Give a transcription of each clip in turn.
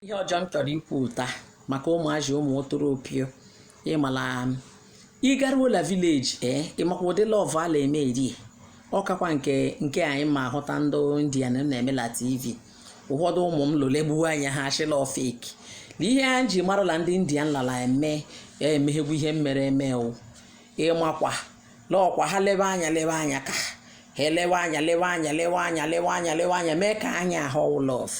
ihe ọzọ m chọrọ ikwu taa maka ụmụazị ụmụ otoropio ị mala ị garuola vileji ee ịmakwa ụdị lọvụ a na-eme eri ọkakwa nke nke anyị ma ahụta ndị indian na-eme na tv ụfọdụ ụmụ m lole gbuo anya ha achịla ọfik na ihe a ji marala ndị india nlala eme ya emeghegwu ihe mere eme wụ ịmakwa lọkwa ha lebe anya lebe anya ka ha elewe anya lewe anya lewe anya lewe anya lewe anya mee ka anya ahụ lọvụ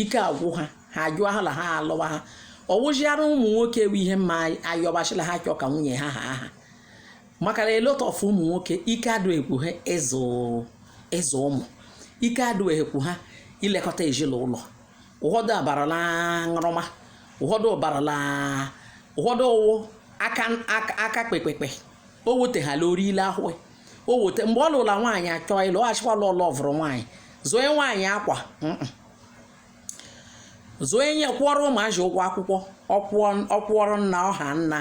ike agwụ ha ha ajụọ ha na ha alụwa ha ọ wụziara ụmụ nwoke ewu ihe mma ayọbachila ha chọọ ka nwunye ha ha aha maka na a lot of ụmụ nwoke ike adụghịkwu ha ịzụ ịzụ ụmụ ike adụghịkwu ha ilekọta ezinụlọ ụfọdụ abarala aṅụrụma ụfọdụ ụbarala ụfọdụ ụwụ aka aka kpekpekpe o wuteghala orile ahụ o weta mgbe ọ lụla nwaanyị achọọ ịlụ ọ achịkwala ọlụ ọvụrụ nwaanyị zoe nwaanyị akwa zoe nye kwụọrọ ụmụazị ụgwọ akwụkwọ ọ kwụọrọ nna ọha nna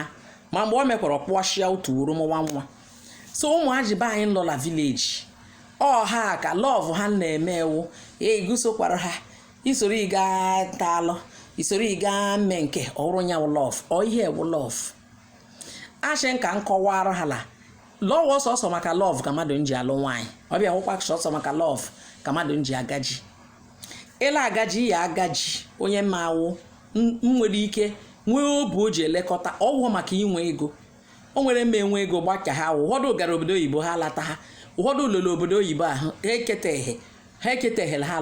ma mgbe o mekwara ọkpụọchịa otu wuru mụwa nwa so ụmụazị be anyị nọ na vileji ọha ka lọvụ ha na-eme ewu egusokwara ha isoro ịga ta alụ isoro ịga mme nke ọrụ nyanwụ lọv ọ ihe ewu lọv ashe nka nkọwara ha la lọv sọsọ maka lọv ka mmadụ nji alụ nwaanyị ọ bịa wụkwa sọsọ maka lọv ka mmadụ nji agaji ele agaji ya agaji onye ma awụ nwere ike nwee obi o ji elekọta ọ wụọ maka inwe ego o nwere mma enwe ego gbacha ha ụfọdụ gara obodo oyibo ha lata ha ụfọdụ ruru obodo oyibo ahụ ha eketeghị ha eketeghịla ha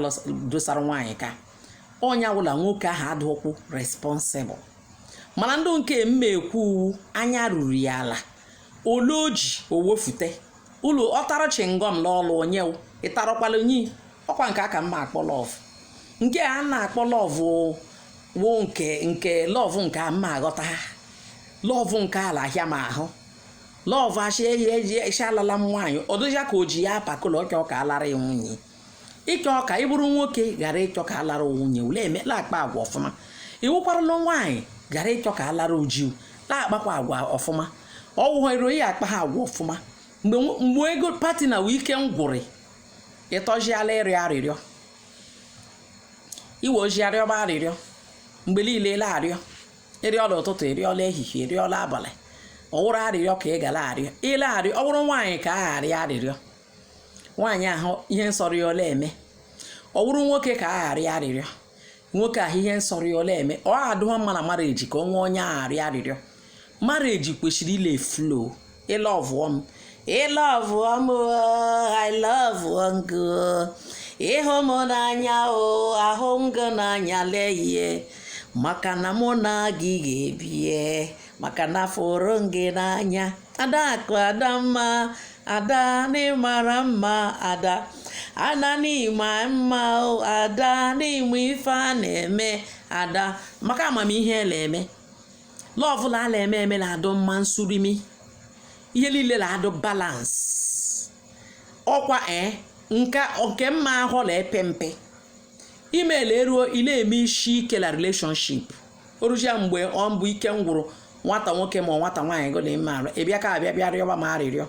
dosara nwaanyị ka onye awụla nwoke ahụ adụkwụ responsible mana ndị nke m ma ekwu anya ruru ya ala ole o ji o wefute ụlọ ọ tara chingọm n'ọlụ onye wụ, ị tarakwala onye i- ọkwa nke a ka m ma akpọ lọvụ nke a na-akpọ lọvụ wụ nke nke lọvụ nke a m ma aghọta ha lọvụ nke ala ahịa m ahụ lọvụ achị eji eji echi alala m nwaanyị ọ dịja ka o ji ya apakụlọ ọka ọka a lara ya nwunye ịchọ ka ị bụrụ nwoke gara ịchọ ka a lara nwunye ule emela akpa agwa ọfụma ị wụkwaranụ nwaanyị gara ịchọ ka a lara ji u na-akpakwa agwa ọfụma ọ wụghọ iro ya akpa ha agwa ọfụma mgbe nwo- mgbe ego pati na wee ike ngwụrị ịtọjiala ịrịọ arịrịọ iwe ojii arịọba arịrịọ mgbe niile ele arịọ ị rịọla ụtụtụ ị rịọla ehihie ị rịọla abalị ọ wụrụ arịrịọ ka ị gara arịọ ile arịọ ọ wụrụ nwaanyị ka a arịọ arịrịọ nwaanyị ahụ ihe nsọrọ ya ọ la-eme ọ wụrụ nwoke ka a ga-arịọ arịrịọ nwoke ahụ ihe nsọrọ ya ọ la-eme ọ adụghọ mma na marriage ka ọ nwee onye a ga-arịọ arịrịọ marriage kwesịrị ile flow ị lọvụọ m ị lọvụọ m i love gị ị hụ m n'anya o ahụ m gị n'anya lehie maka na mụ na gị ga-ebie maka na fụrụ gị n'anya adakụ adamma ada n'ịmara mma ada ada n'ịma mma ada n'ịma ife a na-eme ada maka amamihe a na-eme love la a na-eme eme na-adụ mma nsurimi ihe niile na-adụ balance ọkwa e nke mma ahụ na-epe mpe email eruo ị na-eme isi ike na relationship orujia mgbe ọ mbụ ike m gwụrụ nwata nwoke ma nwata nwaanyị gụ na ime arụ ị bịa ka abịa bịa rịọba m arịrịọ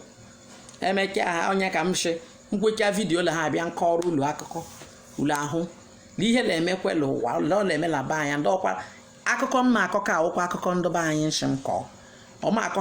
emeka ha onye ka m shị nkwecha video la ha abịa nkọrọ ụlọ akụkọ ụlọ ahụ na ihe na-emekwa ụwa ụlọ na-eme na be anyị ndị ọkwa akụkọ m na-akọ ka awụkwa akụkọ ndị be anyị nshị m kọọ ọma akọ